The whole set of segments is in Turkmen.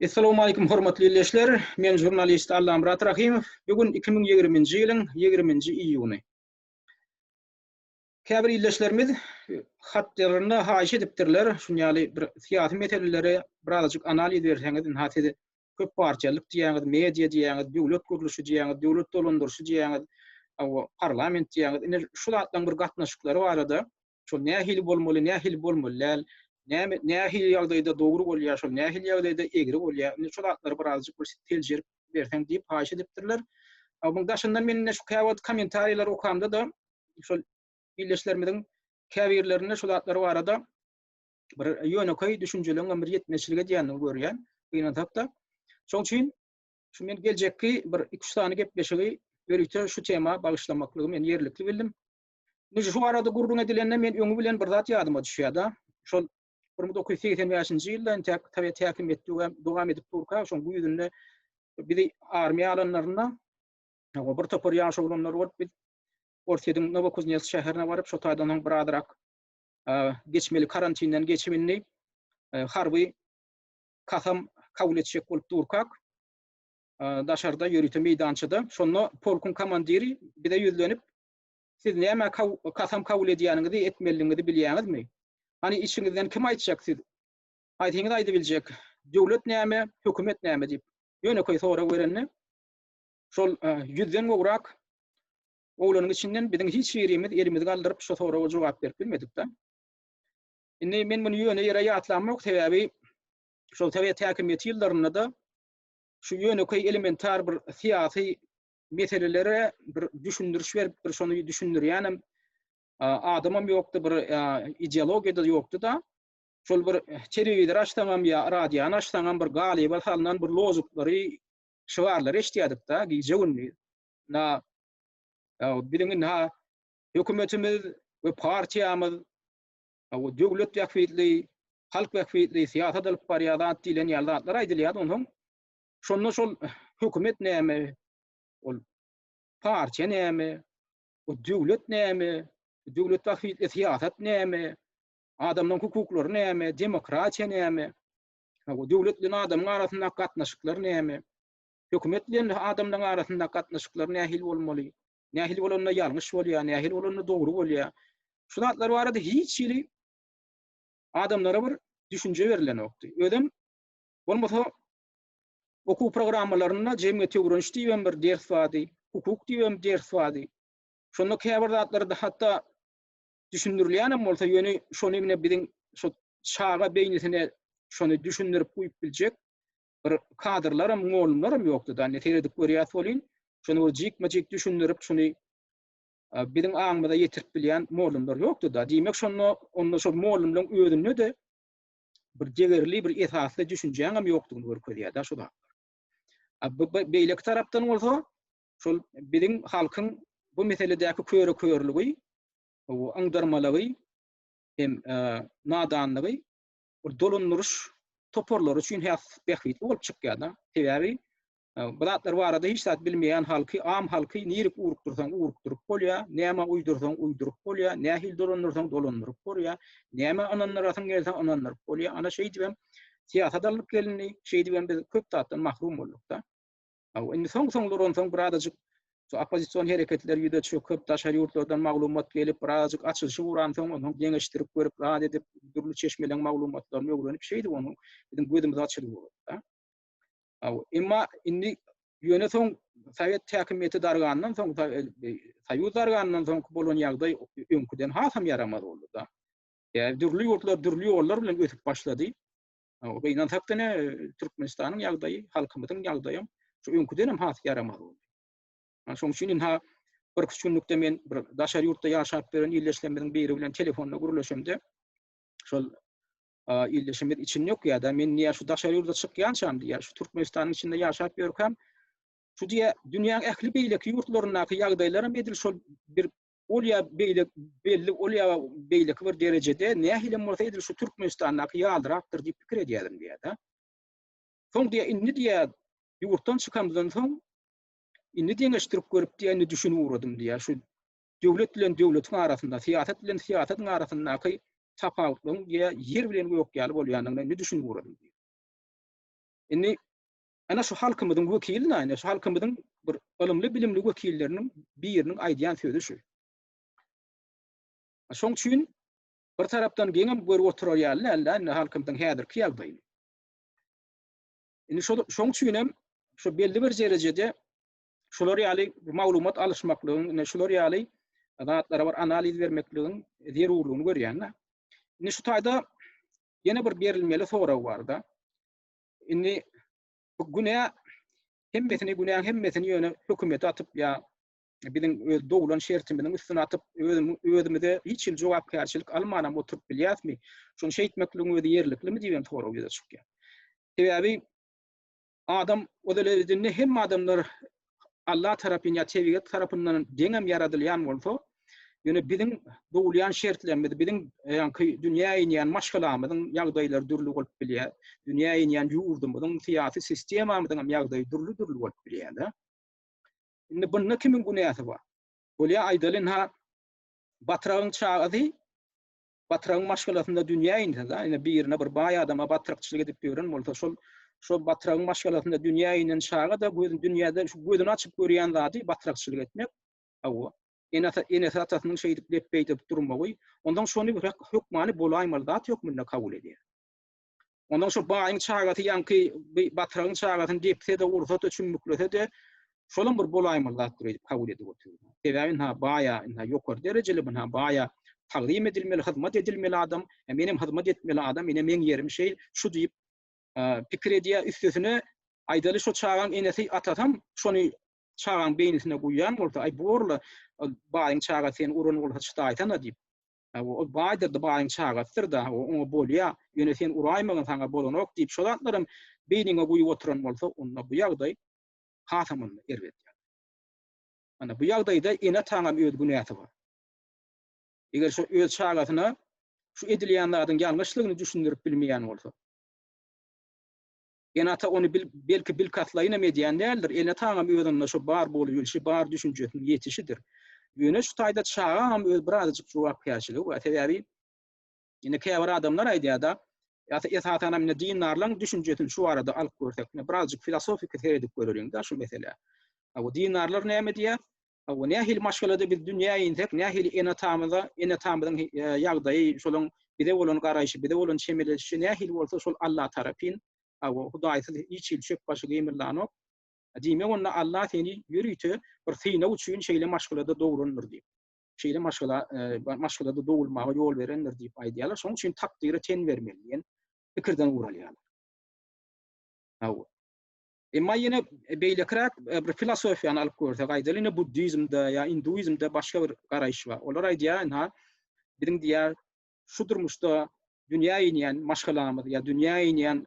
Assalamu alaykum hormatly ildeşler. Men žurnalist Allamyrat Rahimow. Bu gün 2020-nji ýylyň 20-nji iýuny. Käbir ildeşlerimiz hatlarynda haýyş edipdirler, şuny ýaly bir syýasy meseleleri birazajyk analiz berseňiz, ynha siz köp partiýalyk diýýäňiz, media diýýäňiz, döwlet gurluşy diýýäňiz, döwlet dolandyryşy diýýäňiz, parlament diýýäňiz. Indi şu zatlaryň bir gatnaşyklary barada Şol nähili bolmaly, nähili bolmaly däl, näme, nähili ýagdaýda dogry bolýar, şol nähili ýagdaýda egri bolýar. Indi şu zatlary bir azajyk bir seljerip berseň diýip haýyş edipdirler. A munuň daşyndan men indi şu käwagt kommentariýalary okamda-da, şol ildeşlerimiziň käbirlerinde şu zatlar barada bir ýönekeý düşünjeligiň hem bir ýetmezçilik edýändigini görýän, gynansak-da. Şoň üçin şu men geljekki bir iki-üç sany gepleşigi ýörite şu tema bagyşlamaklygy men ýerlikli bildim. Nji şu barada gürrüň edilende men öňi bilen bir zat ýadyma düşýärda. Şol bir müň dokuz ýüz segsen bäşinji ýylda entäk sowet häkimiýeti we dowam edip durka şoň güýzünde bizi armiýa alanlarynda o bir topar ýaş oglanlar bolup biz Orsýetiň Nowokuznetsk şäherine baryp şo taýdan soň bir azrak geçmeli karantinden geçip indi harby kasam kabul etjek bolup durkak daşarda ýörite meýdançada şonda polkuň komandiri bize ýüzlenip Siz näme kasam kabul edýäniňizi, etmeliligiňizi bilýäňizmi? Hany içiňizden kim aýtjak siz? Haýsyňyz aýdybiljek? Döwlet näme, hökümet näme? diýip, ýönekeý sorag berende, şol ýüzden gowrak oglanyň içinden biziň hiç birimiz elimizi galdyryp şo soraga jogap berip bilmedik-de. Indi men muny ýöne ýere ýatlamok, sebäbi şol sowet häkimiýeti ýyllarynda-da şu ýönekeý elementar bir syýasy meselelere bir düşündiriş berip bir şony düşündirýänem adamam ýokdy bir ideologiýa da ýokdy da şol bir telewizor açsaňam ýa radiony açsaňam bir galyba salnan bir lozuklary şygarlary eşitýärdik da gije gündiz na biziň na hökümetimiz we partiýamyz we döwlet wekilleri halk wekilleri syýasat alyp barýar zat diýlen ýaly zatlar aýdylýar ondan Şonda şol hökümet näme, ol partiýa näme, o döwlet näme, döwlet wahid syýasat näme, adamlaryň hukuklary näme, demokratiýa näme, o döwlet bilen adamyň arasyndaky gatnaşyklar näme, hökümet bilen adamlaryň arasyndaky gatnaşyklar nähili bolmaly, nähili bolanda ýalňyş bolýar, nähili bolanda dogry bolýar. Şu zatlar barada hiç hili adamlara bir düşünje berilenokdy. Özem Bolmasa okuw programmalarynda jemgyýeti öwreniş diýibem bir ders bardy, hukuk diýibem ders bardy. Şonda käbir zatlar hatda düşündirilýänem bolsa, ýöne şony ine biziň şu çaga beýnisine şony düşündirip guýup biljek bir kadrlaram, mugallymlaram ýokdy da. Ine seredip görýäs welin, şony bir jikme-jik düşündirip, şony biziň aňymyza ýetirip bilýän mugallymlar ýokdy da. Diýmek, şonda onda şol mugallymlaryň özünde-de bir degerli bir esasly düşünjäňem ýokdugyny görkezýär da şu zat. Beýleki tarapdan bolsa şol biziň halkyň bu meseledäki köre körlügi, bu aňdyrmalygy hem e, nadanlygy bir dolandyryş toparlary üçin häs bähbitli bolup çykýar da. Sebäbi Bu zatlar barada hiç zat bilmeýän halky, am halky nirik urukdyrsaň urukdyryp bolýar, näme uýdursaň uýduryp bolýar, nähili dolandyrsaň dolandyryp bolýar, nämä ynandyrasyň gelse ynandyryp bolýar. Ana şeýdip hem syýasat alnyp gelindi, şeýdip hem biz köp zatdan mahrum bolduk-da. Indi soň-soňlar onsoň birazajyk şu oppozision hereketler ýüze çöküp, daşary ýurtlardan maglumat gelip, birazajyk açylyşy uransoň, onsoň deňeşdirip görüp, rad edip, dürli çeşmeleriň maglumatlaryny öwrenip, şeýdip onuň biziň gözümiz açylyp ugrady-da. Emma indi ýöne soň sowet häkimiýeti dargandan soň, soýuz dargandan soňky bolan ýagdaý öňküden hasam ýaramaz boldy-da. Ýa dürli ýurtlar dürli ýollar bilen ösüp başlady. Gynansak diňe Türkmenistanyň ýagdaýy, halkymyzyň ýagdaýy şu öňküden hem has ýaramaz boldy. Şonuň üçin indi bir üç günlükde men bir daşary ýurtda ýaşap ýören ildeşlerimiziň biri bilen telefonda gürleşemde, şol ildeşimiz içini ýokýar-da, men diýýär, şu daşary ýurda çykýançam diýýär, şu Türkmenistanyň içinde ýaşap ýörkäm, şu diýýär, dünýäň ähli beýleki ýurtlaryndaky ýagdaýlaram edil şol bir ol ýa beýle belli, ol ýa beýleki bir derejede, nähilem bolsa edil şu Türkmenistandaky ýalyrakdyr diýip pikir edýärin diýýär-de. Soň diýýär, indi diýýär, ýurtdan çykamdan soň, indi deňeşdirip görüp diýýär, indi düşünip ugradym diýýär, şu döwlet bilen döwletiň arasynda, syýasat bilen syýasatyň arasyndaky tapawutlaryň ýer bilen gök ýaly bolýandygyna indi düşünip ugradym diýýär. Indi ana şu halkymyzyň wekili näme? Şu halkymyzyň bir ylymly-bilimli wekilleriniň biriniň aýdýan sözi şu. Şoň üçin bir tarapdan geňem görüp oturar ýaly däl-de indi halkymyzyň häzirki ýagdaýyny. Indi şoň üçin hem şu belli bir derejede şular ýaly maglumat alyşmaklygyň, ine şular ýaly zatlara bir analiz bermekligiň zerurlygyny görýän-de. Indi şu taýda ýene bir berilmeli sorag bar-da. Indi bu günä hemmesini, günäň hemmesini ýöne hökümete atyp ýa biziň öz doglan şertimiziň üstüne atyp, özümize hiç hili jogapkärçilik almanam oturyp bilýäsmi? Şuny şeýtmekligiň özi ýerliklimi diýen sorag ýüze çykýar. Sebäbi Adam özelezinde hemme adamlar Allah tarapyn ya tebigat tarapyndan deňem yaradylyan bolsa, yöne biziň dogulyan şertlerimiz, biziň yaňky dünyä inyan maşgalamyzyň yagdaýlary dürli bolup bilya, dünyä inyan yurdumyzyň syýasy sistemamyzyňam yagdaýy dürli dürli bolup bilya da. Indi bunda kimiň günäsi bar? Bolya aýdalyn ha Batragyň çagasy batyrygyň maşgalasynda dünýä inse da ine birine bir baý adama batrykçylyk edip ýören bolsa şol şol batyrygyň maşgalasynda dünýä inen çaga da gözün dünýäde şu gözüni açyp görýän zady batrykçylyk etmek hawa ene ata enesi atasynyň şeýdip lepbeý edip durmagy ondan şony bir hökmany bolaýmaly zat hökmünde kabul edýär Ondan şu baýyň çagasy ýaňky batragyň çagasyny depse-de, ursa-da, çümmüklese-de, şolam bir bolaýmaly zatdyr öýdüp kabul edip otyr. Sebäbi ynha baýa, ynha ýokary derejeli, ynha baýa tagzym edilmeli, hyzmat edilmeli adam, e, menem hyzmat etmeli adam, ine meň ýerim şeýl, şu diýip e, pikir edýär. Üstesine aýdaly şu çagaň enesi, atasam şony çagaň beýnisine guýýan bolsa, aý bu orla e, baýyň çagasy seni uran bolsa çydaýsana diýip, Hawa, ol baýdyr-da, baýyň çagasydyr-da, hawa, oňa bolýa, ýöne sen uraýmagyn, saňa bolanok diýip, şo zatlaram beýniňe guýup oturan bolsa, onda bu ýagdaý hasam onda erbet ýagdaý. Ana, bu ýagdaýda ene-ataňam öz günäsi bar. Eger şo öz çagasyna şu edilýän zadyň ýalňyşlygyny düşündirip bilmeýän bolsa, Enata ony bil, belki bilkastlaýynam edýän däldir, enataňam özünde şo bar bolubylşy, bar düşünjesiniň ýetişidir. Ýöne şu taýda çagaňam öz birazajyk jogapkärçiligi bar. Sebäbi indi käbir adamlar aýdýar-da, ýa-da esasanam indi dindarlaň düşünjesini şu barada alyp görsek, birazajyk filosofiki seredip göreliň-de şu meselä. Aw, dindarlar näme diýýär? Hawa, nähili maşgalada biz dünýä insek, nähili ene-atamyza, ene-atamyzyň ýagdaýy, şolaň bize bolan garaýşy, bize bolan çemeleşişi nähili bolsa, şol Alla tarapyn. Hawa, Hudaýsyz hiç hili çöp başy gymyldanok. Diýmek, onda Alla seni ýörite bir synag üçin şeýle maşgalada dograndyr diýip, şeýle maşgala, maşgalada dogulmaga ýol berendir diýip aýdýarlar. Şonuň üçin takdyra ten bermeli diýen pikirden guralýarlar. Hawa. Emma ýene beýlekiräk bir filosofiýany alyp görsek, aýdaly ýene buddizmde ýa induizmde başga bir garaýyş bar. Olar aýdýar, ynha, biziň diýýär, şu durmuşda dünýä inýän maşgalamyz ýa dünýä inýän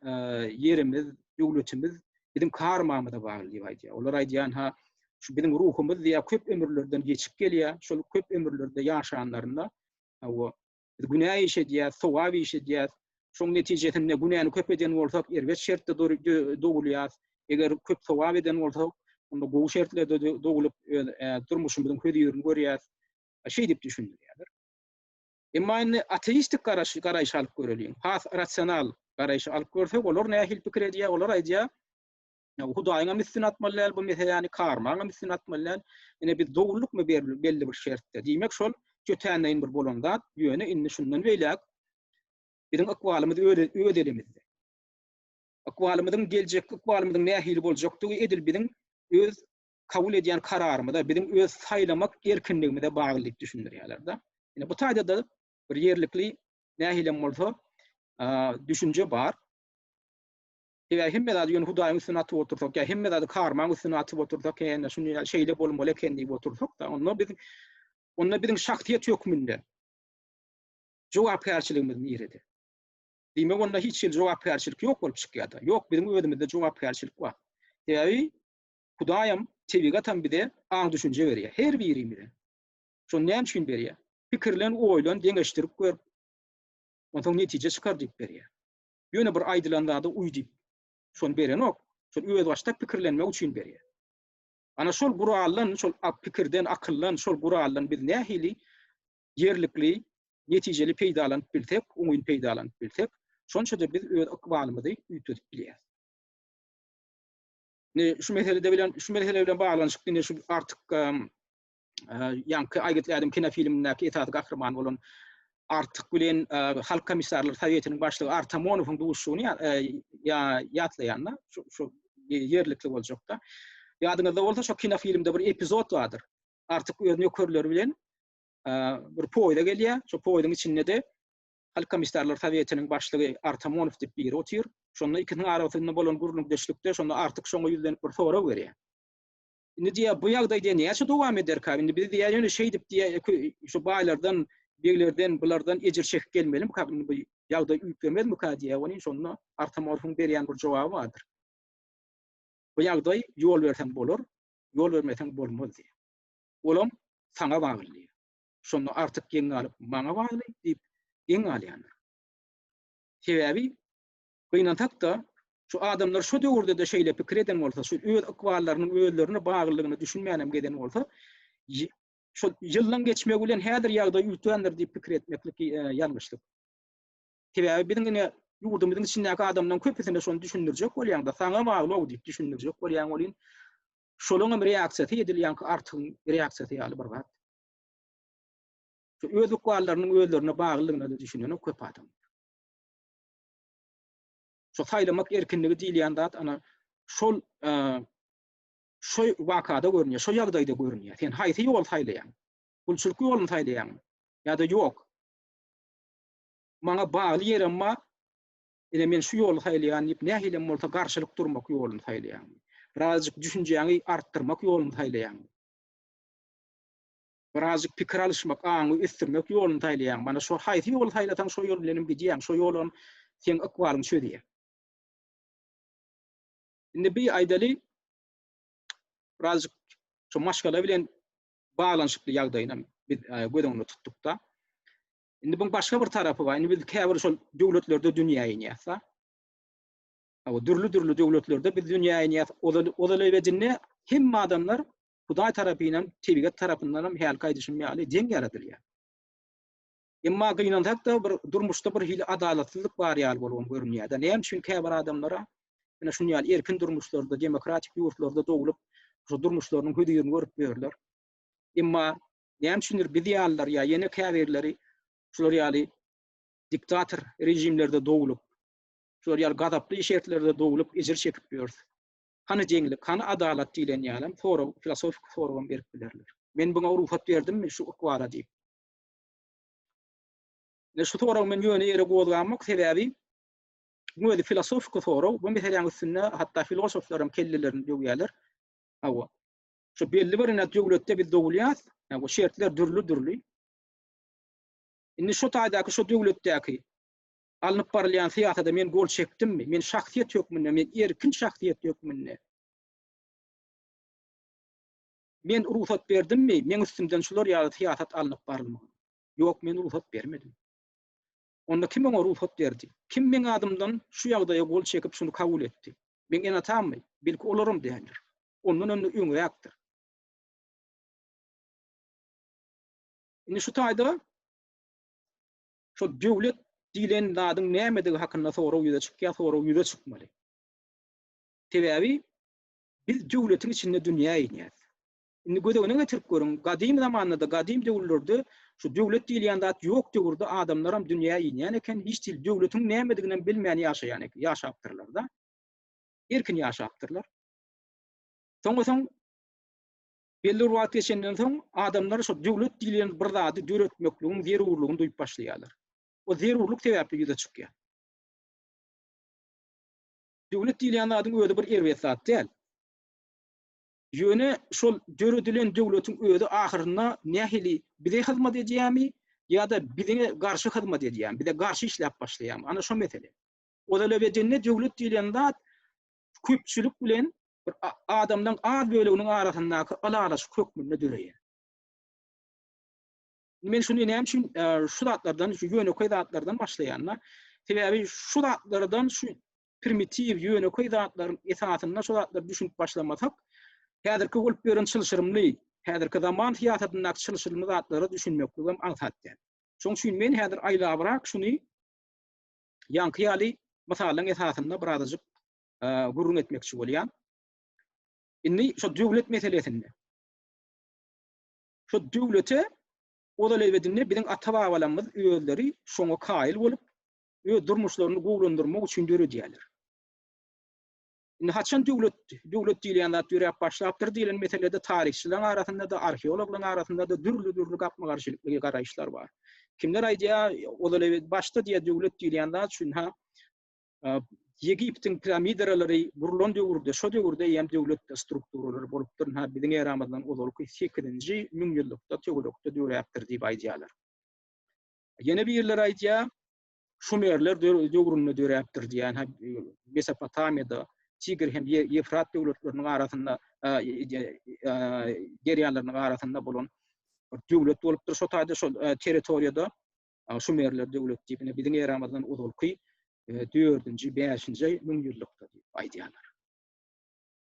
ýerimiz, döwletimiz biziň karmamyza bagly diýip aýdýar. Olar aýdýar, ynha, şu biziň ruhumyz diýýär, köp ömürlerden geçip gelýär, şol köp ömürlerde ýaşanlarynda, hawa, Biz günä iş edýäs, sogap iş edýäs. Şoň netijesinde günäni köp eden bolsak, erbet şertde dogulýas. Eger köp sogap eden bolsak, onda gowy şertlerde dogulyp, öz durmuşymyzyň hözirini görýäs. Şeýdip düşündirýärler. Emma indi ateistik garaş, garaýyş alyp göreliň. Has rasional garaýyş alyp görsek, olar nähili pikir edýär? Olar aýdýar, Ýa Hudaýyňam üstüne atmaly däl bu meseläni, karmaňam üstüne atmaly däl. Ine biz dowullykmy berli belli bir şertde. Diýmek şol jötänleýin bir bolan zat. Ýöne indi şundan beýläk biziň ykbalymyz öz öz elimizde. Ykbalymyzyň geljekki ykbalymyzyň nähili boljakdygy edil biziň öz kabul edýän kararymyza, biziň öz saýlamak erkinligimize bagly diýip düşündirýärler-de. Ine bu taýda-da bir ýerlikli nähilem bolsa düşünje bar. Eger hemme zady ýöne Hudaýyň üstüne atyp otursak, ýa hemme zady karmaň üstüne atyp otursak, hä-ä, şuny şeýle bolmaly eken diýip otursak-da, onda biz, onda biziň şahsyýet hökmünde jogapkärçiligimiz nirede? Diýmek, onda hiç hili jogapkärçilik ýok bolup çykýar-da. Ýok, biziň özümizde jogapkärçilik bar. Sebäbi Hudaýam, tebigatam bize aň-düşünje berýär, her birimize. Şony näme üçin berýär? Pikirlen, oýlan, deňeşdirip gör, onsoň netije çykar diýip berýär. Ýöne bir aýdylan zada uý diýip, şony berenok, şol özbaşdak pikirlenmek üçin berýär. Ana şol guraldan, şol pikirden, akyldan, şol guraldan biz nähili ýerlikli, netijeli peýdalanyp bilsek, oňyn peýdalanyp bilsek, şonça-da biz öz ykbalymyzy üýtgedip bilýäris. Indi şu meselede bilen, şu mesele bilen baglanyşykly indi şu artyk ýaňky Aýgytly adam kinofilmindäki esasy gahryman bolan Artyk bilen Halk komissarlar sowetiniň başlygy Artamonowyň duşuşygyny ýatlaýan-da, şu ýerlikli boljak-da. Ýadyňyzda bolsa, şo kinofilmde bir epizod bardyr. Artyk öz nökerleri bilen bir poýda gelýär. Şo poýduň içinde-de Halk komissarlar sowetiniň başlygy Artamonow diýip biri otyr. Şonda ikisiniň arasynda bolan gürrüňdeşlikde şonda Artyk şoňa ýüzlenip bir sorag berýär. Indi diýýär, bu ýagdaý diýýär, näçe dowam ederkä? Indi biz diýýär, ýöne şeýdip diýýär, ökü şu baýlardan, beglerden, bulardan ejir çekip gelmelimikä? Indi bu ýagdaý üýtgemezmikä diýýär. Welin, şonda Artamorfuň berýän bir jogaby bardyr. Bu ýagdaý ýol berseň bolar, ýol bermeseň bolmaz diýýär. Olam saňa bagly diýýär. Şonda Artyk geň galyp, maňa bagly diýip, geň galýandyr. Sebäbi Gynansak-da, şu adamlar şu döwürde-de şeýle pikir eden bolsa, şu öz ykballarynyň özlerine baglylygyna düşünmänem gezen bolsa, şol ýyllaryň geçmegi bilen häzir ýagdaý üýtgändir diýip pikir etmeklik ýalňyşlyk. Sebäbi biziň ine ýurdumyzyň içindäki adamlaryň köpüsine şony düşündirjek bolýaňda, saňa bagly-ow diýip düşündirjek bolýaň welin, şolaň hem reaksiýasy edilýän artygyň reaksiýasy ýaly bir zat. Şu öz ykballarynyň özlerine baglylygyna-da düşünenok köp adam. Şu saýlamak erkinligi diýilýän zat ana şol şu wakada görünýär, şu ýagdaýda görünýär. Sen haýsy ýoly saýlaýaň? Gulçulyk ýoluny saýlaýaňmy? Ýa-da ýok? Maňa bagly ýerem bar. Ine men şu ýoly saýlaýan diýip, nähilem bolsa garşylyk durmak ýoluny saýlaýaňmy? Birazjyk düşünjäňi artdyrmak ýoluny saýlaýaňmy? Birazjyk pikir alyşmak, aňy ösdürmek ýoluny saýlaýaň. Mana şo haýsy ýoly saýlasaň şo ýol bilenem gidýäň. Şo ýolam seň ykbalyňy çözýär. Indi bir aýdaly birazjyk şu maşgala bilen baglanyşykly ýagdaýynam biz göz öňünde tutdukda. Indi buň başga bir tarapy bar. Indi biz käbir şol döwletlerde dünýä inýäs-de. Hawa, dürli-dürli döwletlerde biz dünýä inýäs. Ozal ozal ebedinde hemme adamlar Hudaý tarapynam, tebigat tarapyndanam hälki aýdyşym ýaly deň ýaradylýar. Emma gynansak-da bir durmuşda bir hili adalatsyzlyk bar ýaly bolubam görünýär-de. Näme üçin käbir adamlara ine şuny ýaly erkin durmuşlarda, demokratik ýurtlarda doglup, şu durmuşlarynyň hözirini görüp ýörler. Emma näme üçindir biz ýalylar ýa ýene käbirleri şular ýaly diktator režimlerde doglup, şular ýaly gazaply şertlerde doglup ejir çekip ýörüs. Hany jeňlik, hany adalat diýlen ýalam sorag, filosofiki soragam berip bilerler. Men buňa rugsat berdimmi şu ykwara diýip. Ine şu soragy men ýöne ýere gozgamok, sebäbi bu özi filosofiki sorag, bu meseläň üstünde hatda filosoflaram kellelerini döwýärler. Hawa. Şu belli bir ine döwletde biz dogulýas, hawa şertler dürli-dürli. Indi şu taýdaky şu döwletdäki Alnyp barylýan syýasada men gol çekdimmi? Men şahsyýet hökmünde, men erkin şahsyýet hökmünde. Men rugsat berdimmi? Meň üstümden şular ýaly syýasat alnyp barylmagyna? Ýok, men rugsat bermedim. Onda kim oňa rugsat berdi? Kim meň adymdan şu ýagdaýa gol çekip, şuny kabul etdi? Meň ene-atammy? Belki, olaram däldir. Ondan öňde öňräkdir. Indi şu taýda Şo döwlet diýlen zadyň nämedigi hakynda sorag ýüze çykýar, sorag ýüze çykmaly. Sebäbi biz döwletiň içinde dünýä inýäs. Indi göz öňüne getirip görüň, gadym zamanlarda, gadym döwürlerde şu döwlet diýilýän zat ýok döwürde adamlaram dünýä inýän eken, hiç dil döwletiň nämediginem bilmän ýaşaýan eken, ýaşapdyrlar-da. Erkin ýaşapdyrlar. Soňa soň Belli bir wagt geçenden soň adamlar şo döwlet diýilýän bir zady döretmekligiň zerurlygyny duýup başlaýarlar. O zerurlyk sebäpli ýüze çykýar. Döwlet diýilýän zadyň özi bir erbet zat däl. Ýöne şol döredilen döwletiň özi ahyrynda nähili bize hyzmat edýärmi ýa-da bize garşy hyzmat edýärmi, bize garşy işläp başlaýarmy? Ana şo mesele. Ozal ebedinde döwlet diýilýän zat köpçülik bilen bir adamlaryň az böleginiň arasyndaky ylalaşyk hökmünde döreýär. Men şuny näme üçin e, şu zatlardan, şu ýönekeý zatlardan başlaýanlar, sebäbi şu zatlardan şu primitiw ýönekeý zatlaryň esasynda şu zatlar düşünip başlamasak, häzirki bolup ýören çylşyrymly, häzirki zaman syýasatyndaky çylşyrymly zatlara düşünmekligim aňsat däl. Şoň üçin men häzir aýlabrak şuny ýaňky ýaly mysallaryň esasynda birazajyk gürrüň etmekçi bolýan. Indi şu döwlet meselesinde. Şu döwlete ozal ebedinde biziň ata-babalarymyz özleri şoňa kaýyl bolup, öz durmuşlaryny gowulandyrmak üçin döredýärler. Indi haçan döwlet, döwlet diýilýän zat döräp başlapdyr diýlen meselede taryhçylaryň arasynda-da, arheologlaryň arasynda-da dürli-dürli gapma-garşylykly garaýyşlar bar. Kimler aýdýar, ozal ewe başda diýýär döwlet diýilýän zat şuny-ha Ýegiptiň piramidaralary gurlan döwürde, şo döwürde eýýäm döwlet strukturalary bolupdyr, ha biziň eramyzdan ozalky sekizinji müňýyllykda, töwerekde döräpdir diýip aýdýarlar. Ýene birleri aýdýar, Şumerler döwründe döräpdir diýýän, Mesopotamiýada, Tigr hem Ýewfrat döwletleriniň arasynda, derýalarynyň arasynda bolan döwlet bolupdyr şo taýda, şo territoriýada. Şumerler döwleti diýip, ine, biziň eramyzdan ozalky dördünji, bäşinji müňýyllykda diýip aýdýarlar.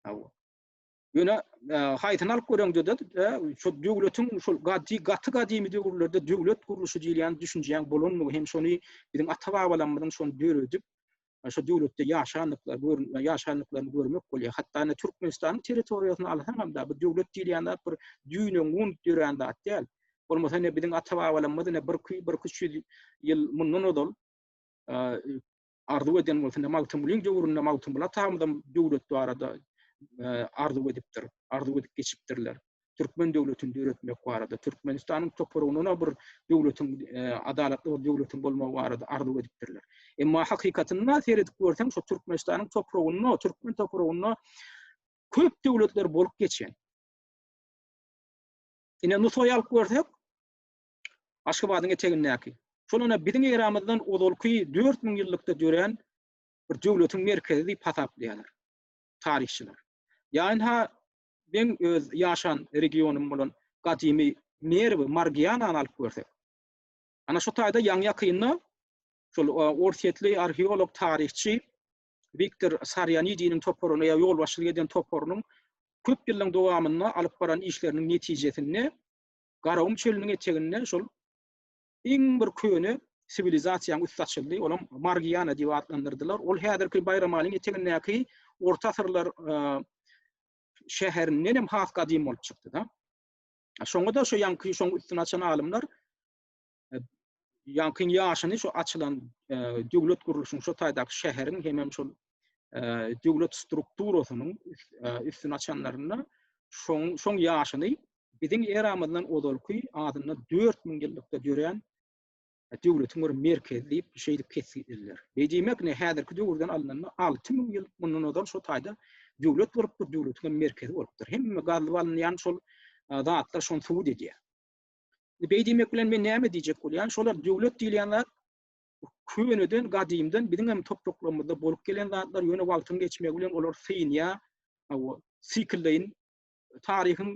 Hawa. Ýöne haýsyny alyp göreňde-de, şol döwletiň şol gaty gadymy döwürlerde döwlet gurluşy diýilýän düşünjäň bolandygy hem şony biziň ata-babalarymyzyň şony döredip, şol döwletde ýaşandyklary, ýaşandyklaryny görmek bolýar. Hatda indi Türkmenistanyň territoriýasyny alsaňam-da, bu döwlet diýilýän zat bir düýne gunut dörän zat däl. Bolmasa indi biziň ata-babalarymyz indi birki-birki ýüz ýyl mundan ozal arzuw eden bolsa, indi Magtymgulyň döwründe Magtymguly atamyzam döwlet barada arzuw edipdir, arzuw edip geçipdirler. Türkmen döwletini döretmek barada, Türkmenistanyň topragynda bir döwletiň, adalatly bir döwletiň bolmagy barada arzuw edipdirler. Emma hakykatynda seredip görseň, şu Türkmenistanyň topragynda, türkmen topragynda köp döwletler bolup geçen. Ine Nusaýy alyp görsek, Aşgabadyň etegindäki, şol ine biziň eramyzdan ozalky dört müň ýyllykda dörän bir döwletiň merkezi diýip hasaplaýarlar taryhçylar. Ýa ynha meň öz ýaşan regionym bolan gadymy Merwi, Margianany alyp görsek. Ana şu taýda ýaňy-ýakynda şol orsýetli arheolog, taryhçy Wiktor Sarýanidiniň toparyny ýa ýolbaşçylyk eden toparynyň köp ýyllaryň dowamynda alyp baran işleriniň netijesinde Garagum çölüniň eteginde şol iň bir köne siwilizasiýanyň üsti açyldy. Olam Margiana diýip atlandyrdylar. Ol häzirki Baýramalyň etegindäki orta asyrlar şäherinden hem has gadym bolup çykdy-da. Şoňa-da şo ýaňky şoň üstüni açan alymlar ýaňkyň ýaşyny şu açylan döwlet gurluşyň şu taýdaky şäheriň hemem şol döwlet strukturasynyň üstüni açanlarynda şoň şoň ýaşyny biziň eramyzdan ozalky adynda 4000 ýyllykda dörän döwletiň bir merkezi diýip şeýdip kesgitleýärler. Beýdimek ne häzirki döwürden alnanda 6000 ýyl mundan ozal şu taýda döwlet bolupdyr, döwletiň merkezi bolupdyr. Hemme gazlyp alynýan şol zatlar şony subut edýär. Beý diýmek bilen men näme diýjek bolýan? Şolar döwlet diýilýän zat köneden, gadymdan biziň hem topraklarymyzda bolup gelen zatlar, ýöne wagtyň geçmegi bilen olar synýar. Hawa, siklleýin taryhyň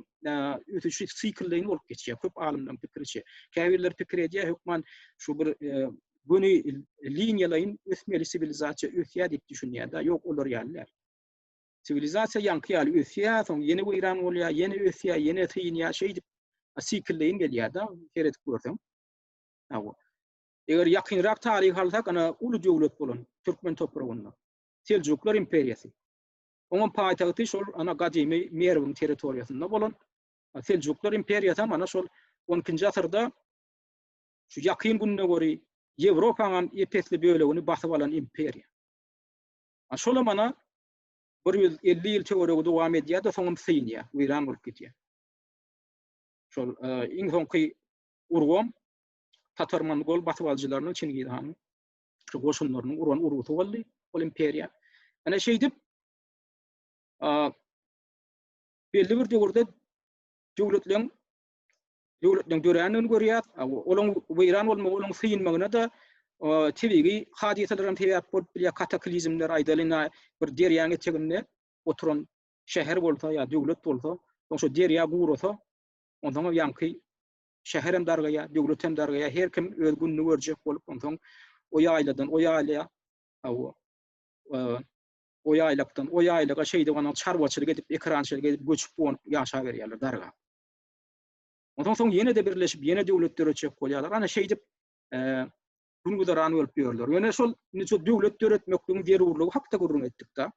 ösüşi siklleýin bolup geçýär. Köp alymlaryň pikiriçe. Käbirler pikir edýär, hökman şu bir göni liniýalaýyn ösmeli siwilizasiýa ösýär diýip düşünýär-de. Ýok, olar ýaly däl. Siwilizasiýa ýaňky ýaly ösýär, soň ýene weýran bolýar, ýene ösýär, ýene synýar, şeýdip siklleýin gelýär-de, seredip görseň. Hawa. Eger ýakynrak taryhy alsak, ana, uly döwlet bolan türkmen topragynda, Seljuklar imperiýasy. Onuň paýtagty şol, ana, gadymy Merwiň territoriýasynda bolan Seljuklar imperiýasy hem, ana, şol on ikinji asyrda şu Ýakyn Gündogary, Ýewropaň hem ep-esli bölegini basyp alan imperiýa. A şolam ana bir ýüz elli ýyl töweregi dowam edýär-de, soňam synýar, weýran bolup gidýär. Şol iň soňky urgam tatar-mongol basybalyjylarynyň, Çingiz hanyň şu goşunlarynyň uran urgusy boldy ol imperiýa. Ana şeýdip, belli bir döwürde döwletleriň döwletleriň dörändigini görýäs. Olaň weýran bolmagy, olaň synmagyna-da tebigy hadysalaram sebäp bolup bilýär, kataklizmler, aýdalyň, bir derýaň eteginde oturan şäher bolsa ýa döwlet bolsa, soň şo derýa gurasa, onsoň ýaňky şäher hem dargaýar, döwlet hem dargaýar, her kim öz gününi görjek bolup, onsoň o ýaýladan o ýaýla, hawa, o ýaýlakdan o ýaýlaga şeýdip, anaň çarwaçylyk edip, ekerançylyk edip, göçüp-gonup ýaşaberýärler dargap. Ondan soň ýene-de birleşip, ýene döwlet döretjek bolýarlar. Ana şeýdip, gün-güzeran bolup ýörler. Ýöne şol indi şol döwlet döretmekligiň zerurlygy hakda gürrüň etdik-de.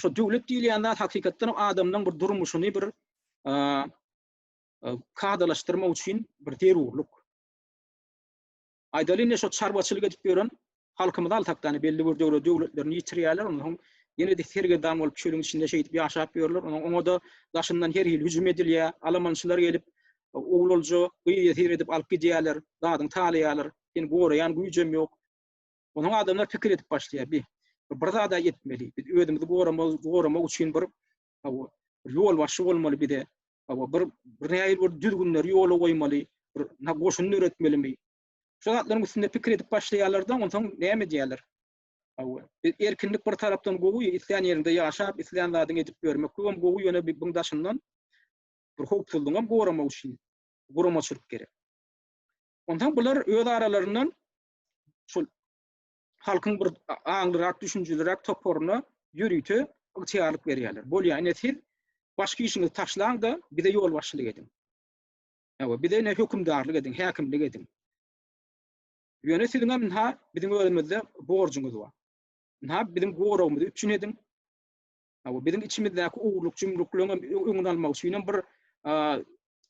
Şo döwlet diýilýän zat hakykatdan hem adamlaryň bir durmuşyny bir kadalaşdyrmak üçin bir zerurlyk. Aýdaly indi şo çarwaçylyk edip ýören halkymyz altakdany belli bir döwre döwletlerini ýitirýärler ondan soň ýene-de sergedam bolup çölüň içinde şeýdip ýaşap ýörler ondan oňa-da daşyndan her hili hüjüm edilýär alamançylar gelip ogul olja gyýa seredip alyp gidýärler zadyňy talaýarlar seni goraýan güýjem ýok ondan adamlar pikir edip başlaýar bi bir zada etmeli biz özümizi goramak goramak üçin bir ýolbaşçy bolmaly bize Hawa, bir bir nähili bir düzgünleri ýola goýmaly, bir na goşun döretmelimi? Şu zatlaryň üstünde pikir edip başlaýarlar-da, onsoň näme edýärler? Hawa, e, erkinlik bir tarapdan gowy, islän ýeriňde ýaşap, islän zadyňy edip ýörmek bu hem gowy, ýöne bi-biň daşyndan bir howpsuzlygyňy hem goramak üçin guramaçylyk gerek. Onsoň bular öz aralaryndan şol halkyň bir aňlyrak, düşünjelirak toparyna ýörite ygtyýarlyk berýärler. Bolýa, ine siz başky işiňizi taşlaň-da, bize ýolbaşçylyk ediň. Hawa, bize ine hökümdarlyk ediň, häkimlik ediň. Ýöne siziň hem ynha biziň özümizde borjuňyz bar. Ynha biziň goragymyzy üpjün ediň. Hawa, biziň içimizdäki ogurlyk jümrükleň hem öňüni almak üçin hem bir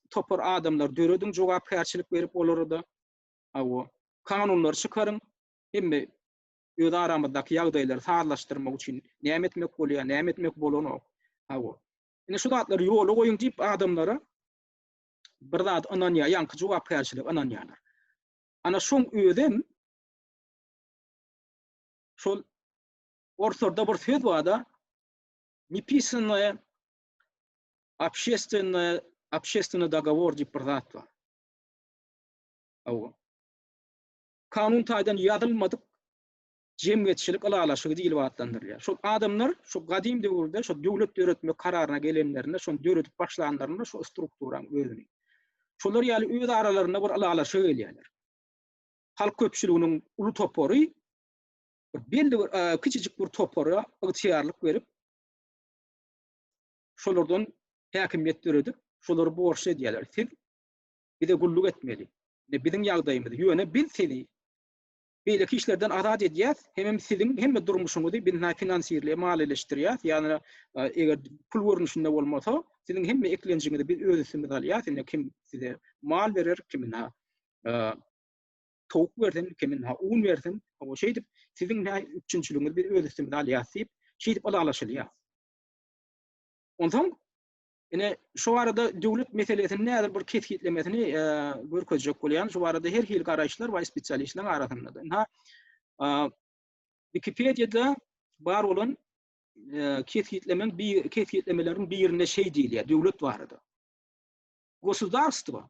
topar adamlar dörediň, jogapkärçilik berip olara da Hawa. Kanunlary çykaryň. Hemme öz aramyzdaky ýagdaýlary sazlaşdyrmak üçin näme etmek bolýar, näme etmek bolanok. Hawa. Indi şu zatlary ýola goýuň diýip adamlara bir zat ynanýar, ýaňky jogapkärçilik ynanýarlar. Ana şoň özem şol orslarda bir söz bar-da, nepisannaýe obşestennaýe obşestennaý dogowor diýip bir zat bar. Hawa. Kanun taýdan ýazylmadyk jemgyýetçilik ylalaşygy diýlip atlandyrylýar. Şol adamlar şu gadym döwürde şu döwlet döretmek kararyna gelenlerinde, şony döredip başlanlarynda şu strukturanyň özüni, şolar ýaly öz aralarynda bir ylalaşyga gelýärler. Halk köpçüliginiň uly topary belli bir kiçijik bir topara ygtyýarlyk berip, şolardan häkimiýet döredip, şolary borçly edýärler. Siz bize gulluk etmeli. Indi biziň ýagdaýymyz, ýöne biz sizi beýleki işlerden azat edýäs, hemem siziň hemme durmuşyňyzy biz näme finansirleýär, maliýeleşdirýäs, ýagny eger pul görnüşinde bolmasa, siziň hemme eklenjiňizi biz öz üstümize alýas, indi kim size mal berer, kimin ha towuk bersin, kimin ha un bersin, hawa şeýdip siziň näme üpjünçiligiňizi biz öz üstümize alýas diýip, şeýdip ylalaşylýar. Onsoň Ine, şu arada döwlet meselesini nädip bir kesgitlemesini görkezjek bolýan, şu arada her hili garaýyşlar we spesialistleriň arasynda. Ina, Wikipediýada bar bolan kesgitlemeň bir kesgitlemeleriň birinde şeý diýilýär, döwlet barada. Gosudarstwo,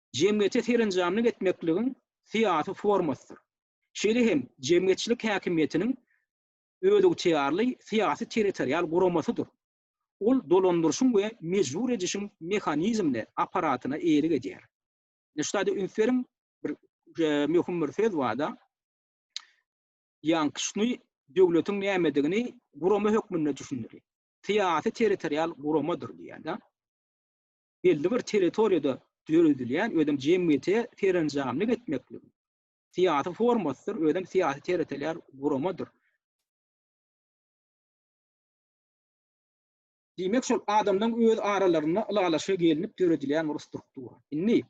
jemgyýete serenjamlyk etmekligiň syýasy formasydyr. Şeýle hem jemgyýetçilik häkimiýetiniň özygtyýarly syýasy-territorial guramasydyr. Ol dolandyryşyň we mejbur edişiň mehanizmine, apparatyna eýelik edýär. Ine şu zada üns beriň, bir möhüm bir söz barda, ýankyşny döwletiň nämedigini gurama hökmünde düşündirýär. Syýasy-territorial guramadyr diýýär-de. belli bir territoriýada döredilýän, özem jemgyýete serenjamlyk etmeklik syýasy formasydyr, özem syýasy territorial guramadyr. Diýmek, şol adamlaryň öz aralarynda ylalaşyga gelinip döredilýän bir struktura. Indi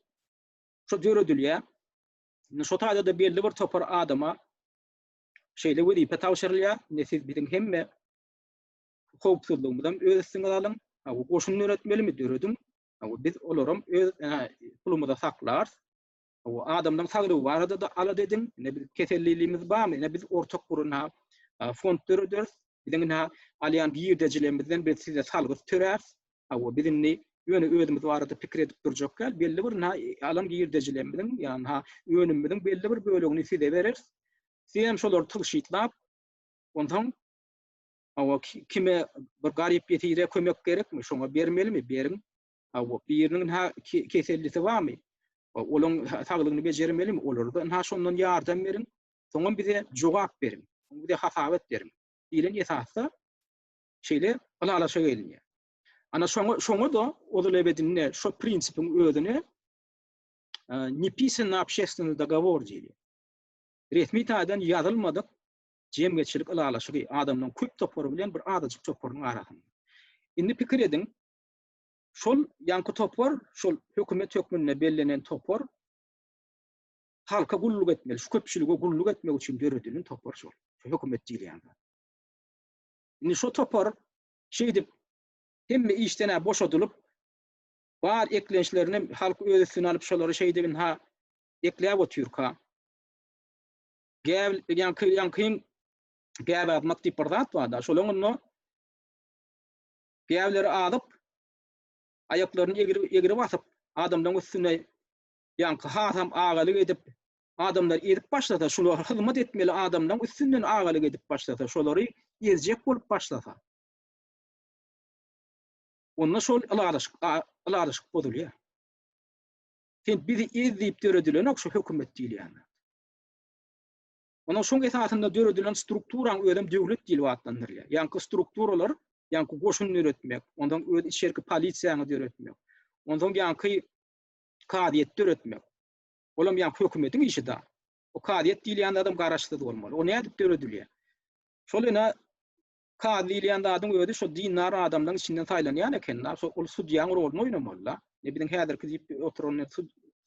şu döredilýän, indi şu taýda-da belli bir topar adama şeýle wezipe tabşyrylýar, indi siz biziň hemme howpsuzlygymyzam öz üstüňiz alyň. Aw goşun döretmelimi dörediň. Aw biz olaram öz pulumyza saklarys. Aw adamlaryň saglygy barada da alada ediň. Ine biz kesellilimiz barmy? Ine biz ortak guruna fond dörederis. Biziň ine alýan girdejilerimizden biz size salgyt töläris. Aw biz indi ýöne özümiz barada pikir edip durjak däl. Belli bir na alan girdejilerimiziň ýa na önümimiziň belli bir bölegini size bereris. Sizem şolary tygşytlap onsoň Hawa, kime bir garyp ýesire kömek gerekmi? Şoňa bermelimi? Beriň. Hawa, biriniň ynha kesellisi barmy? Olaň saglygyny bejermelimi? Olara-da ynha şondan ýardam beriň. Soňam bize jogap beriň. Soň bize hasabat beriň. Diýlen esasda şeýle ylalaşa gelinýär. Ana şoňa, şoňa-da ozal ebedinde şo prinsipiň özüne nepisanny obşestwennyi dogowor diýilýär. Resmi taýdan ýazylmadyk jemgyýetçilik ylalaşygy, adamlaryň köp topary bilen bir azajyk toparynyň arasynda. Indi pikir ediň, şol ýaňky topar, şol hökümet hökmünde bellenen topar halka gulluk etmeli, şu köpçülige gulluk etmek üçin döredilen topar şol, şu hökümet diýilýän zat. Indi şo topar şeýdip hemme işden-ä boşadylyp, bar eklençlerini halk öz üstüne alyp, şolary şeýdip ynha ekläp otyrka, Gäbil edýän köýýän kyn gäbi atmak diýip bir zat bar-da, şol onda gäbileri adyp, aýaklaryny egri egri basyp, adamlaryň üstüne ýaňky hasam agalyk edip, adamlar ezip başlasa, şular hyzmat etmeli adamlaryň üstünden agalyk edip başlasa, şolary ezjek bolup başlasa. Onda şol ylalaşyk, ylalaşyk bozulýar. Sen bizi ez diýip döredilenok şu hökümet diýilýän. Onuň şoň esasynda döredilen strukturaň özem döwlet diýlip atlandyrylýar. Ýaňky strukturalar, ýaňky goşun döretmek, onsoň öz içerki polisiýaňy döretmek, onsoň ýaňky kazyýeti döretmek. Olam ýaňky hökümetiň işi da. O kazyýet diýilýän zadam garaşsyz bolmaly. O nädip döredilýär? Şol ýene Kazy diýilýän zadyň özi şo dindar adamlaryň içinden saýlanýan eken-la, şo ol sudýaň roluny oýnamaly-la. Ine, biziň häzirki diýip oturan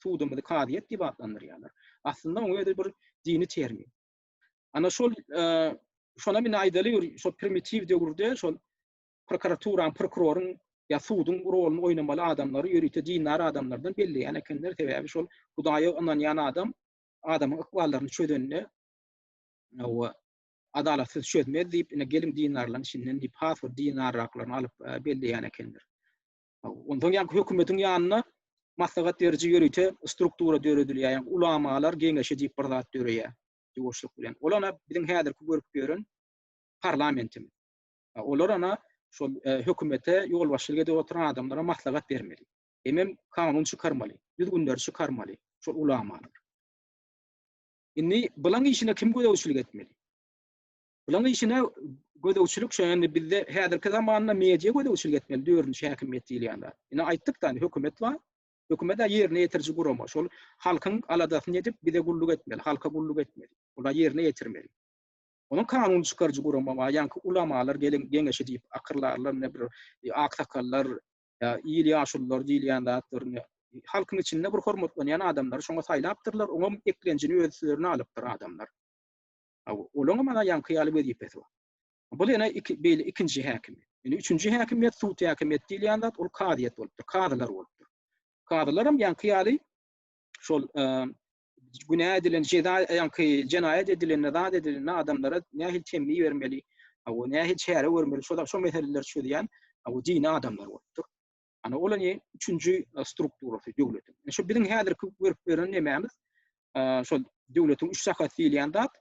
sudumyzy kazyýet diýip atlandyrýarlar. Aslynda oň özi bir dini termin. Ana şol, şonam indi aýdaly bir şo primitiw döwürde şol prokuraturanyň, prokuroryň ýa suduň roluny oýnamaly adamlary ýörite dindar adamlardan belleýän ekenler, sebäbi şol Hudaýa ynanýan adam adamyň ykballaryny çözende, hawa, Adalat sizi çözmez diýip, ine geliň dinarlaryň içinden diýip, has bir dinarraklaryny alyp belleýän ekenler. Onsoň ýaňky hökümetiň ýanynda maslahat beriji ýörite struktura döredilýär, ýagny ulamalar geňeşi diýip bir zat döreýär ýuwaşlyk bilen. Ol ana biziň häzirki görüp ýören parlamentimiz. Olar ana şol hökümete ýolbaşçylyk edip oturan adamlara maslahat bermeli. Hemem kanun çykarmaly, düzgünleri çykarmaly şol ulamalar. Indi bulan işine kim gözegçilik etmeli? Bulan işine gözegçilik şu indi bizde häzirki zamanda media gözegçilik etmeli dördünji häkimiýet diýilýänler. Ine aýtdyk da hökümet bar. Hökümet ýerine ýetiriji gurama. Şol halkyň aladasyny edip bize gulluk etmeli, halka gulluk etmeli. Ola ýerine ýetirmeli. Onuň kanun çykaryjy gurama bar. Ýaňky ulamalar gelen geňeşi diýip akyrlarlar, ne bir e, aksakallar, ýa il ýaşululary diýilýän zatlaryny halkyň içinde bir hormatlanýan adamlary şoňa saýlapdyrlar, oňam eklenjini öz üstlerine alypdyr adamlar. Olaňam ana ýaňky ýaly wezipesi bar. Bul ene iki beýle ikinji häkim. Indi üçünji häkimiýet sud häkimiýeti diýilýän zat ol kazyýet bolupdyr, kazylar bolupdyr. Kazylaram ýaňky ýaly şol günä edilen jeza ýaňky jenaýat edilende zat edilende adamlara nähili temmi bermeli aw nähili çäre görmeli şoda şo meseleler çözýän aw dini adamlar bolupdyr ana ol ne üçünji e, strukturasy döwletiň e, şu biziň häzirki görüp beren nemämiz e, şol döwletiň üç sakat diýilýän zat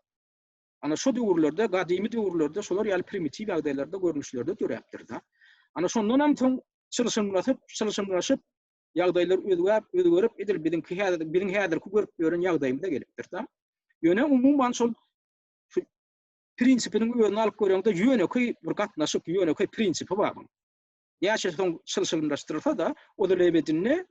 ana şu döwürlerde gadymy döwürlerde şolar ýaly primitiw ýagdaýlarda görnüşlerde döräpdir da ana şondan hem soň çylşymlaşyp çylşymlaşyp ýagdaýlar özgäp, özgerip, edil biziňki häzir, biziň häzirki görüp ýören ýagdaýymyza gelipdir-dä. Ýöne umuman şol şu prinsipiniň özüni alyp göreňde ýönekeý bir gatnaşyk, ýönekeý prinsipi bar buň. Näçe soň çylşyrymlaşdyrylsa-da, ol el ebedinde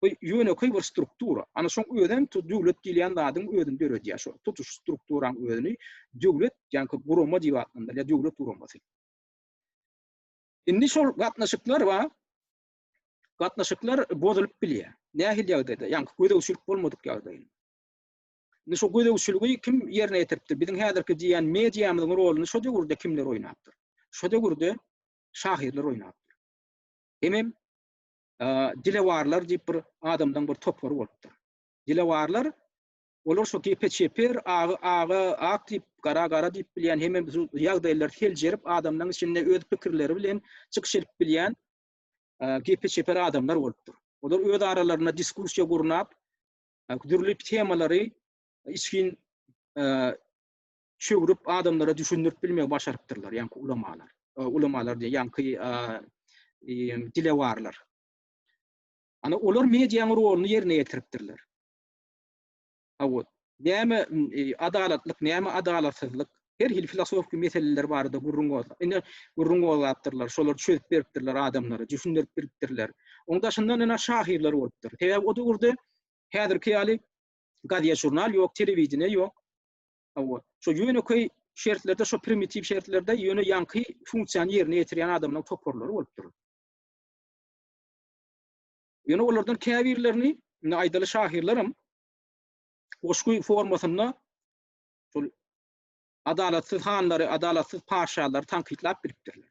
bu ýönekeý bir struktura. Ana şoň özi hem tu döwlet diýilýän zadyň özüni döredýär şo tutuş strukturaň özüni döwlet, ýagny gurama diýip atlandyrýar, döwlet guramasy. Indi şol gatnaşyklar bar. gatnaşyklar bozulyp bilýär. Nähili ýagdaýda? Ýaňky gözegçilik bolmadyk ýagdaýynda. Indi şu gözegçiligi kim ýerine ýetiripdir? Biziň häzirki diýýän mediamyzyň roluny şo döwürde kimler oýnapdyr? Şo döwürde şahyrlar oýnapdyr. Hemem dilewarlar diýip bir adamdan bir topar bolupdyr. Dilewarlar olar şu gepe çeper, agy aga, ak diýip, gara gara diýip bilýän, hemem ýagdaýlary seljerip, adamlaryň içinde öz pikirleri bilen çykyş edip bilýän gepe çeper adamlar bolupdyr. Olar öz aralarynda diskursiýa gurnap, dürli temalary içgin çöwrüp adamlara düşündirip bilmegi başarypdyrlar, ýaňky ulamalar. Ulamalar diýen ýaňky dilewarlar. Ana olar medianyň roluny ýerine ýetiripdirler. Hawa. Näme adalatlyk, näme adalatsyzlyk? Her hili filosofiki meseleler barada gürrüň gozgap, ine, gürrüň gozgapdyrlar, şolary çözüp beripdirler adamlara, jüsündirip biripdirler. Oň daşyndan ene şahyrlar bolupdyr. Sebäbi o döwürde häzirki ýaly gazet-žurnal ýok, telewideniýe ýok. Hawa. Şo ýönekeý şertlerde, şo primitiw şertlerde ýöne ýaňky funksiýany ýerine ýetirýän adamlaryň toparlary bolupdyr. Ýöne olardan käbirlerini, indi aýdaly şahyrlaram goşgy formasynda şol adalatsyz hanlary, adalatsyz paşalary tankytlap bilipdirler.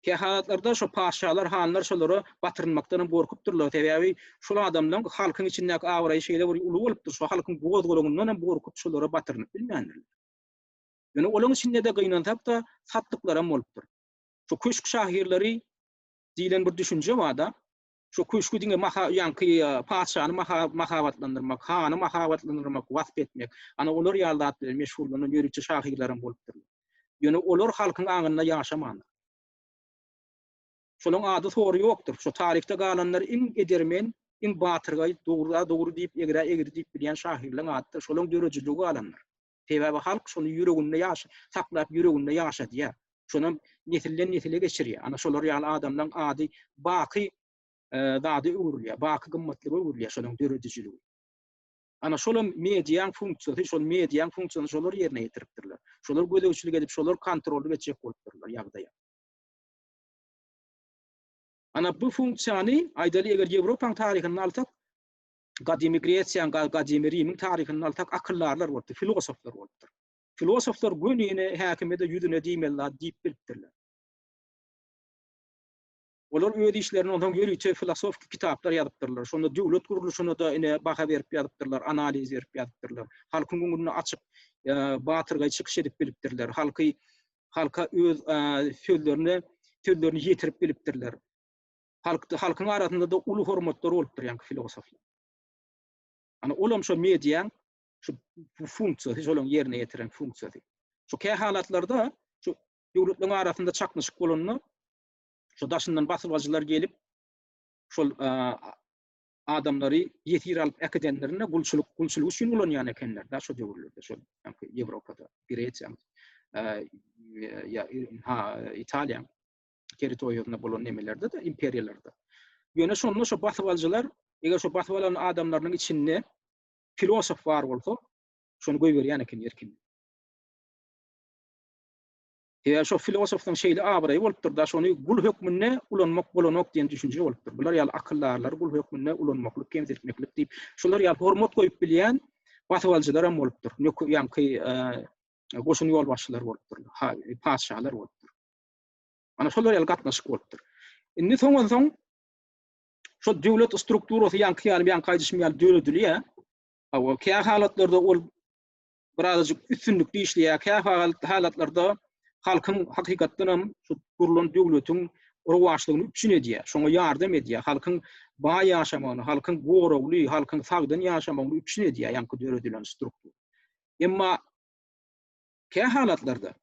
Kähalatlarda şo paşalar, hanlar şolara batyrynmakdan hem gorkupdyrlar. Sebäbi şol adamlaryň halkyň içindäki abraýy şeýle bir uly bolupdyr, şo halkyň goz-golagyndan hem gorkup şolara batyrynyp bilmändirler. Ýöne olaryň içinde-de gynansak-da, satlyklaram bolupdyr. Şo köşk şahyrlary diýlen bir düşünje bar-da. Şu köşgi diňe maha ýaňky patyşany mahabatlandyrmak, hany mahabatlandyrmak, wasp etmek, ana olar ýaly zat bilen meşgullanan ýörite şahyrlar hem bolupdyrlar. Ýöne olar halkyň aňynda ýaşamandyr. Şolaryň ady sory ýokdur. Şu taryhda galanlar iň edermen, iň batyrgaý, dogry-a dogry diýip, egri-a egri diýip bilýän şahyrlaryň ady-da şolaryň döredijiligi galandyr. Sebäbi halk şony ýüreginde ýaş saklap ýüreginde ýaşadýar. Şonam nesilden nesile geçirýär. Ana şolar ýaly adamlaň ady baky zada öwrülýär. Baky gymmatlyga öwrülýär şonuň döredijiligi. Ana şolam mediaň funksiýasy, şol mediaň funksiýasyny şolar ýerine ýetiripdirler. Şolar gözegçilik edip, şolar kontrollyk etjek bolupdyrlar ýagdaýa. Ana bu funksiýany aýdaly eger Ýewropaň taryhyny alsak, Gadymy Gresiýa, Gadymy Rimiň taryhyny alsak, akyldarlar bolupdyr, filosoflar bolupdyr. Filosoflar gönüne, häkime-de ýüzüne diýmeli zat diýip bilipdirler. Olar öz işlerini onsoň ýörite filosofiki kitaplar ýazypdyrlar. Şonda döwlet gurluşyna-da ine baha berip ýazypdyrlar, analiz berip ýazypdyrlar. Halkyň öňünde açyk, batyrgaý çykyş edip bilipdirler. Halky, halka öz sözlerini, sözlerini ýetirip bilipdirler. halkda halkyň arasynda da uly hormatlary bolupdyr ýaňky filosoflaryň. Ana olam şo mediýaň şu funksiýasy, şolaryň ýerine ýetiren funksiýasy. Şu kä halatlarda şu döwletleriň arasynda çaknyşyk bolanda şu daşyndan basybacylar gelip şol adamlary ýesir alyp äkidenlerinde gulçulyk gulçulyk üçin ulanýan ekenler da şu döwürlerde şu ýaňky Ýewropada, Gresiýa, ýa ha Italiýa. territoriýasynda bolan nemelerde-de, imperiýalarda. Ýöne şonda şo basybaljylar, eger şo basyp alan adamlarynyň içinde filosof bar bolsa, şony goýberýän eken erkin. Eger şo filosofyň şeýle abraýy bolupdyr-da, şony gul hökmünde ulanmak bolanok diýen düşünje bolupdyr. Bular ýaly akyldarlary gul hökmünde ulanmaklyk, kemsitmeklik diýip, şular ýaly hormat goýup bilýän basybaljylaram bolupdyr. Ýöne ýaňky goşun ýolbaşçylary bolupdyr, patyşalar bolupdyr. Ana şolar ýaly gatnaşyk bolupdyr. Indi soňansoň şol döwlet strukturasy ýaňky ýaly, ýaňky aýdyşym ýaly döredilýär. Hawa, kä halatlarda ol birazajyk üstünlikli işleýär, kä halatlarda halkyň hakykatdan hem şu gurlan döwletiň rowaçlygyny üpjün edýär, şoňa ýardam edýär, halkyň baý ýaşamagyny, halkyň goragly, halkyň sagdyn ýaşamagyny üpjün edýär ýaňky döredilen struktura. Emma kä halatlarda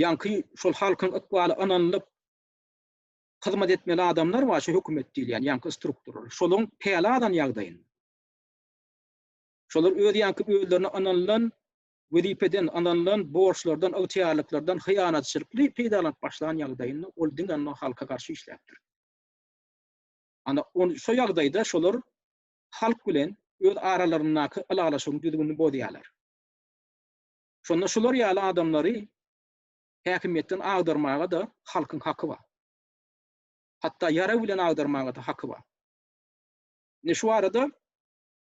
Ýaňky şol halkyň ykbaly ynanylyp hyzmat etmeli adamlar bar, şu hökümet diýilýän ýaňky struktural. Şolaryň päli alan ýagdaýynda. Şolar öz ýaňky özlerine ynanylan wezipeden, ynanylan borçlardan, ygtyýarlyklardan hyýanatçylykly peýdalanyp başlan ýagdaýynda ol diňe ondan halka garşy işläpdir. Ana, on şo ýagdaýda şolar halk bilen öz aralaryndaky ylalaşygyň düzgünini bozýarlar. Şonda şular ýaly adamlary häkimiýetden agdarmaga-da halkyň haky bar. Hatda ýarag bilen agdarmaga-da haky bar. Indi şu barada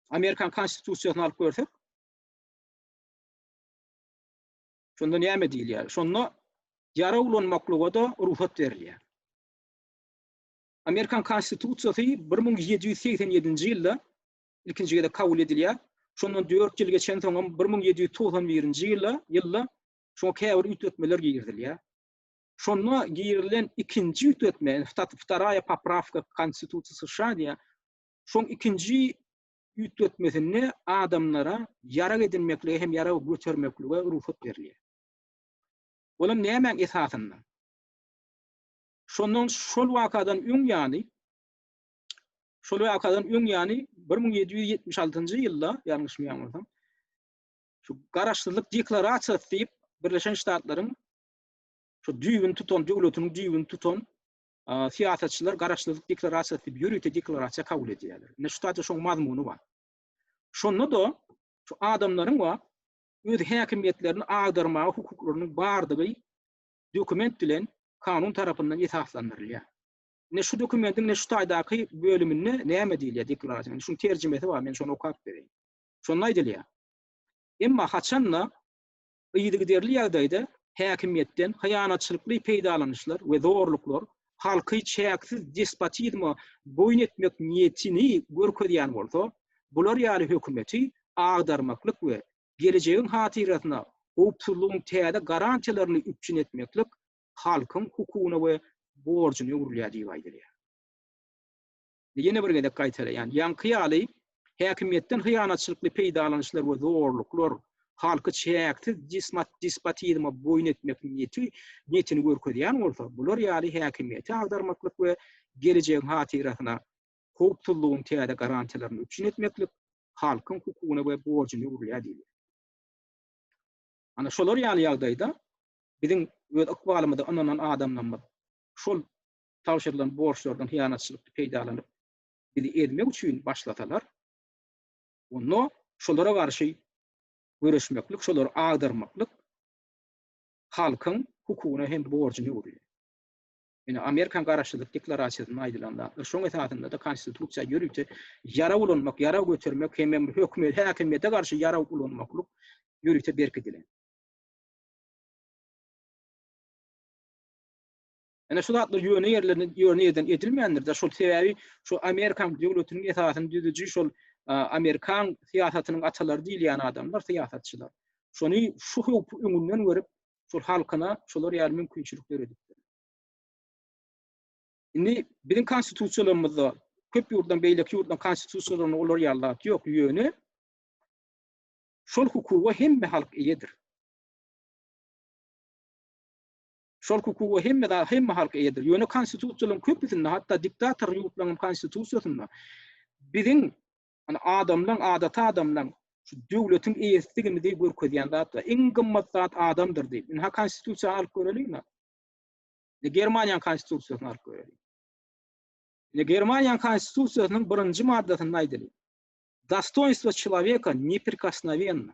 Amerikan Konstitusiýasyny alyp görsek, şonda näme diýilýär? Şonda ýarag ulanmaklyga-da rugsat berilýär. Amerikan Konstitusiýasy bir müň ýedi ýüz segsen ýedinji ýylda ilkinji gezek kabul edilýär. Şondan dört ýyl geçensoňam bir müň ýedi ýüz togsan birinji ýyla ýylda şoňa käbir üýtgetmeler girizilýär. Şonda girilen ikinji üýtgetme, Stat wtaraýa poprawka k Konstitusiýa США diýýär. Şoň ikinji üýtgetmesinde adamlara ýarag edinmeklige hem ýarag götermeklige rugsat berilýär. Olam nämäň esasynda? Şondan şol wakadan öň ýaly Şol wakadan öň ýany 1776-njy ýylda, ýalňyşmaýan bolsam, şu garaşsyzlyk deklarasiýasy diýip Birleşen Ştatlaryň şu düýbüni tutan, döwletiniň düýbüni tutan syýasatçylar garaşsyzlyk deklarasiýasy diýip ýörite deklarasiýa kabul edýärler. Ine şu taýda şoň mazmuny bar. Şonda da şu adamlaryň we öz häkimiýetlerini agdarmaga hukuklarynyň bardygy dokument bilen kanun tarapyndan esaslandyrylýar. Ine şu dokumentiň ine şu taýdaky bölüminde näme diýilýär deklarasiýanyň? Şunuň terjimesi bar, men şony okap bereýin. Şonda aýdylýar. Emma haçan-da yzygiderli ýagdaýda häkimiýetden hyýanatçylykly peýdalanyşlar we zorluklar halky çäksiz despotizme boýun etmek niýetini görkezýän bolsa, bular ýaly hökümeti agdarmaklyk we gelejegiň hatyrasyna howpsuzlygyň täze garantiýalaryny üpjün etmeklik halkyň hukugyna we borjuna öwrülýär diýip aýdylýar. Ýene bir gezek gaýtalaýan, ýaňky ýaly häkimiýetden hyýanatçylykly peýdalanyşlar we zorluklar halky çäksiz despotizme boýun etmek niýeti niýetini görkezýän bolsa, bular ýaly häkimiýeti agdarmaklyk we gelejegiň hatyrasyna howpsuzlygyň täze garantiýalaryny üpjün etmeklik halkyň hukugyna we borjuna öwrülýär diýilýär. Ana, şolar ýaly ýagdaýda biziň öz ykbalymyza ynanan adamlarymyz şol tabşyrylan borçlardan hyýanatçylykly peýdalanyp, bizi ezmek üçin başlasalar, onda şolara garşy göreşmeklik, şolary agdarmaklyk halkyň hukugyna hem borjuna öwrülýär. Ine, Amerikan Garaşsyzlyk deklarasiýasynda aýdylan zatlar, şoň esasynda-da Konstitusiýa ýörite ýarag ulanmak, ýarag götermek hemem höküme, häkimiýete garşy ýarag ulanmaklyk ýörite berkidilen. Ine, şu zatlar ýöne ýerlerinde ýöne ýerden edilmändir-de, şol sebäbi şu Amerikan döwletiniň esasyny düzüji şol Amerikan syýasatynyň atalary diýilýän adamlar, syýasatçylar. Şony şu howpy öňünden görüp, şol halkyna şolar ýaly mümkinçilik döredipdir. Indi biziň konstitusiýalarymyzda köp ýurtdan beýleki ýurtdan konstitusiýalarynda olar ýaly zat ýok, ýöne şol hukuga hemme halk eýedir. Şol hukuga hemme hemme halk eýedir. Ýöne konstitusiýalaryň köpüsinde, hatda diktator ýurtlaryň konstitusiýasynda biziň Ony adamlaň, adaty adamlaň şu döwletiň eýesidigimizi görkezýän zat we iň gymmat zat adamdyr diýip. Indi ha konstitusiýany alyp göreliň ha. Indi Germaniýanyň konstitusiýasyny alyp göreliň. Indi Germaniýanyň konstitusiýasynyň birinji maddasynda aýdylyp. Dostoýnstwo çelaweka neprikosnowenne.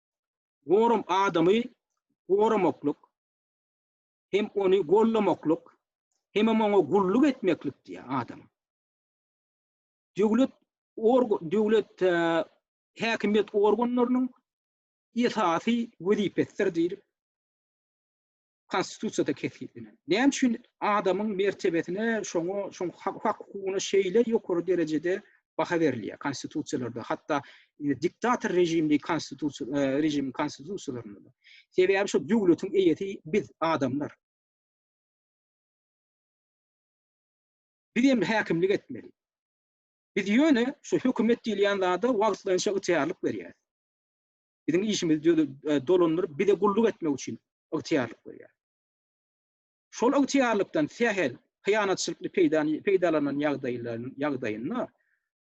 Gorum adamy goramaklyk hem ony gollamaklyk hemem oňa gulluk etmeklik diýýär adam. Döwlet org döwlet e, häkimiýet organlarynyň esasy wezipesidir diýip Konstitusiýada kesgitlenen. Näme üçin adamyň mertebesine, şoňa, şoň hak-hukugyna şeýle ýokary derejede baha berilýär konstitusiýalarda, hatda e, diktator režimli konstitusiýa e, režimiň konstitusiýalarynda. Sebäbi şu döwletiň eýesi biz adamlar. Biz hem häkimlik etmeli. Biz ýöne şu hökümet diýilýän zada wagtlaýynça ygtyýarlyk berýär. biziň işimizi dolandyryp, bize gulluk etmek üçin ygtyýarlyk berýär. Şol ygtyýarlykdan sähel, hyýanatçylykly peýdalanan ýagdaýynda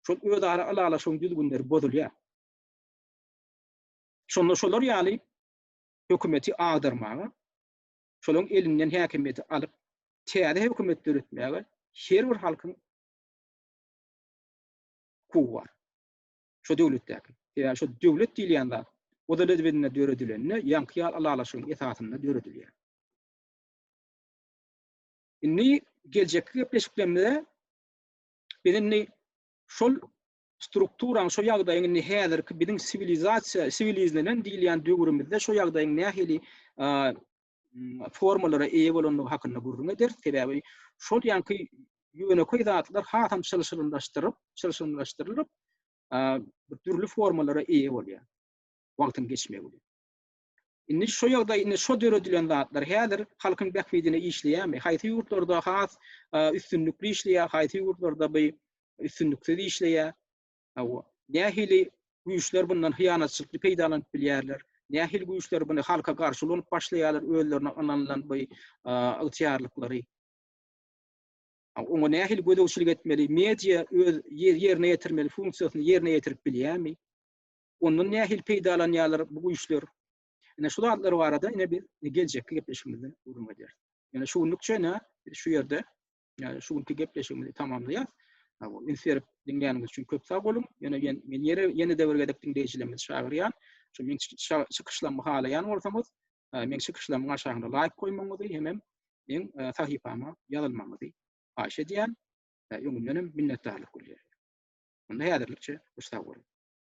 şol özara ylalaşygyň düzgünleri bozulýar. Şonda şolar ýaly hökümeti agdarmaga, şolaryň elinden häkimiýeti alyp, täze hökümet döretmäge her bir halkyň hukugy bar. şo döwletdäki. Sebäbi şo döwlet diýilýän zat Oda lezbedinde döredilende ýaňky ýaly ylalaşygyň esasynda döredilýär. Indi geljekki gepleşiklerimizde biz indi şol strukturaň, şo ýagdaýyň indi häzirki biziň siwilizasiýa, siwilizlenen diýilýän döwrümizde şo ýagdaýyň nähili formalara eýe bolandygy hakynda gürrüň eder. Sebäbi şol ýanky ýönekeý zatlar hasam çylşyrymlaşdyryp, çylşyrymlaşdyrylyp, dürli formalara eýe bolýar. Wagtyň geçmegi bilen. Indi şu ýagdaý, indi şu döredilen zatlar häzir halkyň bähbidine işleýärmi? Haýsy ýurtlarda has üstünlikli işleýär, haýsy ýurtlarda bu üstünliksiz işleýär? Hawa, nähili güýçler bundan hyýanatçylykly peýdalanyp bilýärler? Nähili güýçler buny halka garşy ulanyp başlaýarlar, özlerine ynanylan bu ygtyýarlyklary? Oňa nähili gözegçilik etmeli? Media öz ýerine ýetirmeli funksiýasyny ýerine ýetirip bilýärmi? Ondan nähili peýdalanýarlar bu güýçler? Ine şu zatlar barada ine biz geljekki gepleşigimizde gürrüň ederis. Ine şu günlükçe ine şu ýerde Yani şu günki gepleşigimizi tamamlaýas. Üns berip diňläniňiz üçin köp sag boluň. Ýöne men men ýere ýene däwir gezek diňleýjilerimizi çagyrýan. Şu men çykyşlarymy halaýan bolsaňyz, men çykyşlaryň aşagynda laýk goýmagyňyzy hemem men sahypama ýazylmagyňyzy haýyş edýän. Öňünden hem minnetdarlyk bildirýän. Onda häzirlikçe sag boluň.